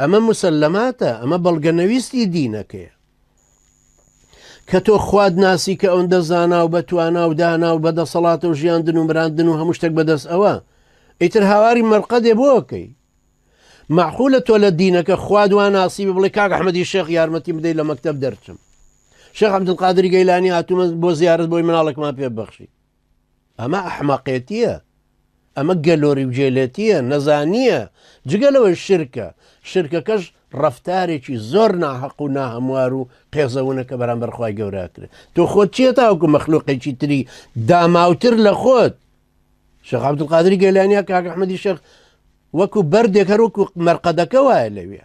ئەمە مسلماتە ئەمە بەڵگە نەویستی دینەکەیە کە تۆ خواد ناسی کە ئەوەندە زانا و بە توانا و دانا و بە دەسەڵاتە و ژیاندن و مراندن و هەموو شتێک بەدەست ئەوە ئیتر هاواری مەرقە دێ بۆکەی معحولە تۆ لە دینەکە خوادوان ناسی بڵێ کاک ئەحمەدی شێخ یارمەتی بدەیت لە مەکتب دەرچم شێخ عبدقادری گەیلانی هاتوومە بۆ زیارت بۆی مناڵێکمان پێ بەخشی ئەمە ئەحمەقێتیە ئەمە گەلۆری و جێلێتیە نەزانیە جگە لەوەی شرکە شرکەکەش ڕەفتارێکی زۆر ناحەق و ناهەموار و قێزەونە کە بەرامبەر خی گەوراکرێت تۆ خۆت چیە تاوکو مەخلوقێکی تری داماوتر لە خۆت شەخ عبدقادری گەلانیا کاکە حمەدی شەخ وەکو بەردێک هەروەکو مەرقەدەکە وایە لەوێ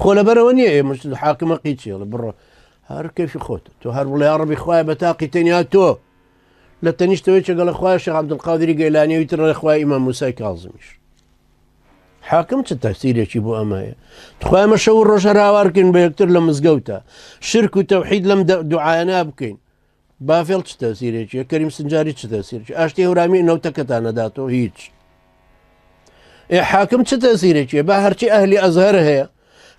خۆ لەبەرەوە نییە ئێ مشت حاکمە قیچێڵە بڕۆ هەر کەفی خۆت تۆ هەر بڵێ ڕبی خوای بە تاقی تەنیا تۆ لە تەنیشتەوەی چگەڵە خوای شە عبدقادری گەلانیەوەی تر ڕێخوای ئیمە موسای کازمیش حاکم چ تەسیرێکی بۆ ئەمەیە تخوایمە شەو ڕۆژە راوارکن بە یەکتر لە مزگەوتە شرک و تەوحید لەم دوعاەنا بکەین باڤێڵ چ تەسیرێکی کەریم سنجاری چ تەسیرکی ئاشتی هەورامی نەوتەکەتان نەداتەوە هیچ ئێ حاکم چ تەسیرێکی با هەرچی ئەهلی ئەزهر هەیە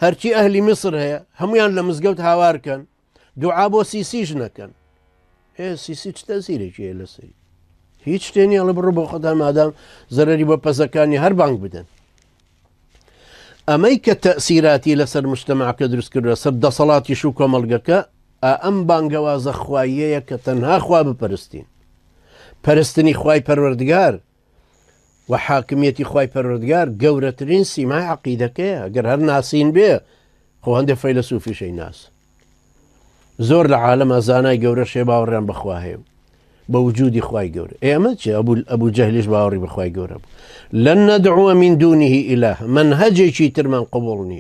هەرچی ئەهلی میسر هەیە هەمویان لە مزگەوت هاوارکەن دوعا بۆ سیسیش نەکەن هێ سیسی چ تەسیرێکی هەیە لە سەری هیچ شتێنی ئەڵە بڕۆ بۆ خۆدا مادام زەرری بە پەزەکانی هەر بانگ بدەن ئەمەی کە تەسیراتی لەسەر مشتمەعەکە دروستکردە سەر دەسەڵاتیش و کۆمەلگەکە ئەم بانگەوازە خواییەیە کە تەنها خوا بپەرستین پەرستنی خوای پەروەردگار و حاکمیەتی خوای پەروەردگار گەورەترین سیمای عقیدەکەیە گەر هەر ناسین بێ خۆ هەندێک فەیلسوفیشەی ناس زۆر لە عالەما زانای گەورە شێ باوەڕیان بەخوا هەیە بە وجودی خی گەور ئێمە چ ئەبول ئەبوو جەهلیش باوەڕی بەخوای گەورە بوو لەن نەدعوە من دونیه ئیلاه من هەجێکی ترمان قوبڵ نییە